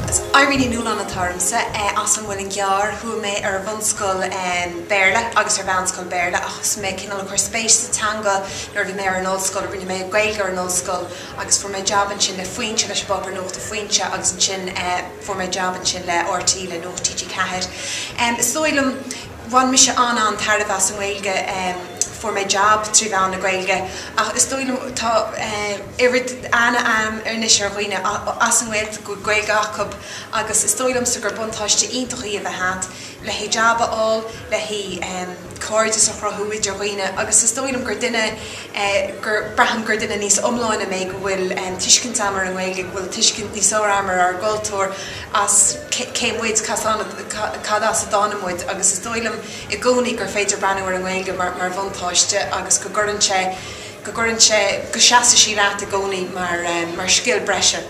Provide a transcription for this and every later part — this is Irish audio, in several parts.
Is Irene Ní Nualláin atá ormsa, as an Muileann gCearr. Chuaigh mé ar bhunscoil Béarla agus ar mheánscoil Béarla ach thosaigh mé cineál ag cur spéis sa teanga nuair a bhí mé ar an ollscoil. Rinne mé Gaeilge ar an ollscoil agus fuair mé jab ansin le Foinse, leis an bpáipéar nuachta Foinse agus ansin fuair mé jab ansin le RTÉ, le Nuacht TG4. Is dóigh liom. bhain mise an-an-tairbhe as an nGaeilge, fuair mé jab trí mheán na Gaeilge ach is dóigh liom tá oiread ana-mheas anois ar dhaoine as an nGaeltacht go bhfuil Gaeilge acu agus is dóigh liomsa gur buntáiste iontach í a bheith agat le haghaidh jab a fháil, le haghaidh cairdeas a chruthú idir dhaoine agus is dóigh liom gur duine gur, braithim gur duine níos iomláine mé go bhfuil tuiscint a'm ar an nGaeilge, go bhfuil tuiscint níos fearr a'm ar ár gcultúr. as cé muid, cad as a dtáinig muid agus is dóigh liom i gcónaí gur féidir breathnú ar an nGaeilge mar bhuntáiste agus go gcuireann sé, go gcuireann sé, go seasfaidh sí leat i gcónaí mar scil breise.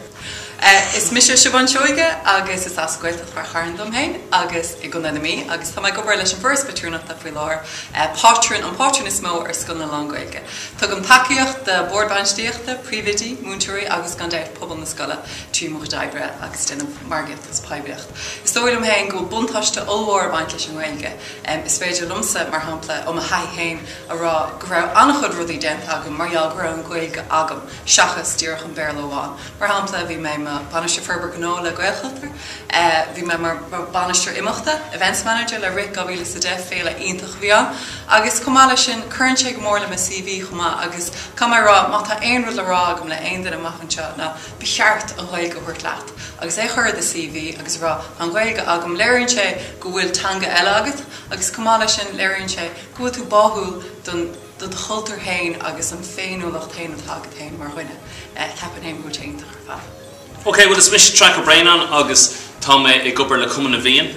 Is mise Siobhán Seoighe agus is as Gaeltacht Ráth Chairn dom féin agus i gContae na Mí agus tá mé ag obair leis an bhForas Patrúnachta faoi láthair, pátrún, an pátrún is mó ar scoileanna lán-Ghaeilge. Tugaim tacaíocht do bhoird bhainistíochta, príomhoidí, múinteoirí agus gan dabht, pobal na scoile. trí mo chuid oibre agus déanamh margaíochta agus poiblíocht. Is dóigh liom féin go bhfuil buntáiste ollmhór ag baint leis an nGaeilge. Is féidir liomsa, mar shampla, ó mo thaithí féin a rá go raibh an-chuid rudaí déanta agam mar gheall go raibh an Ghaeilge agam seachas díreach an Béarla amháin. Mar shampla, bhí mé i mo Bhainisteoir Forbartha Gnó le Gaelchultúr, bhí mé mar Bhainisteoir Imeachta, Events Manager, le Rith 2010, féile iontach a bhí ann, agus chomh maith leis sin, cuireann sé go mór le mo CV chomh maith agus caithfidh mé a rá má tá aon rud le rá agam le haon duine amach anseo ná. ba cheart an Ghaeilge a thabhairt leat agus é a chur i do CV agus a rá tá an Ghaeilge agam. Léiríonn sé go bhfuil teanga eile agat agus chomh maith leis sin léiríonn sé go bhfuil tú báúil do do chultúr féin agus an féiniúlacht féin atá agat féin mar dhuine. Ceapaim féin go bhfuil sé iontach ar fad. Okay, bhuel is mise Traic Ó Braonáin agus Tá mé ag obair le Cumann na bhFiann.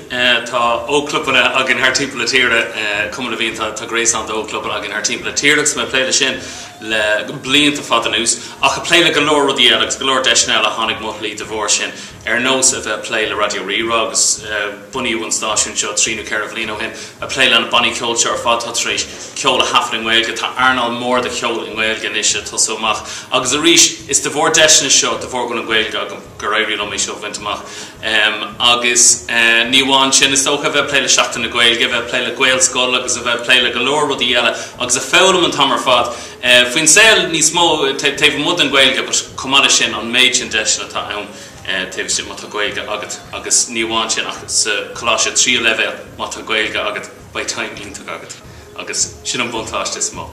Tá ógchlubanna againn thar timpeall na tíre. Cumann na bhFiann, tá gréasán d'ógchlubanna againn thar timpeall na tíre agus tá mé ag plé leis sin le blianta fada anuas, ach ag plé le go leor rudaí eile agus go leor deiseanna eile a tháinig i mo shlí de bharr sin, ar nós a bheith ag plé le Raidió Rí-Rá agus bunú an stáisiúin seo trí nó ceithre bhliain ó shin, ag plé leis na bannaí ceoil seo ar fad atá tar éis ceol a thaifead i nGaeilge. Tá earnáil mhór de cheol i nGaeilge anois ag tosú amach agus arís is de bharr deiseanna seo de bharr go bhfuil an Ghaeilge agam, Gur éirigh liom é seo a bhaint amach. Agus ní amháin sin, is dócha a bheith ag plé le Seachtain na Gaeilge, a bheith ag plé le Gaelscoil agus a bheith ag plé le go leor rudaí eile agus ag foghlaim an t-am ar fad faoin saol níos mó taobh amuigh den Ghaeilge but chomh maith leis sin an méid sin deiseanna atá ann taobh istigh má tá Gaeilge agat agus ní amháin sin ach sa choláiste tríú leibhéal má tá Gaeilge agat beidh time iontach agat agus sin an buntáiste is mó.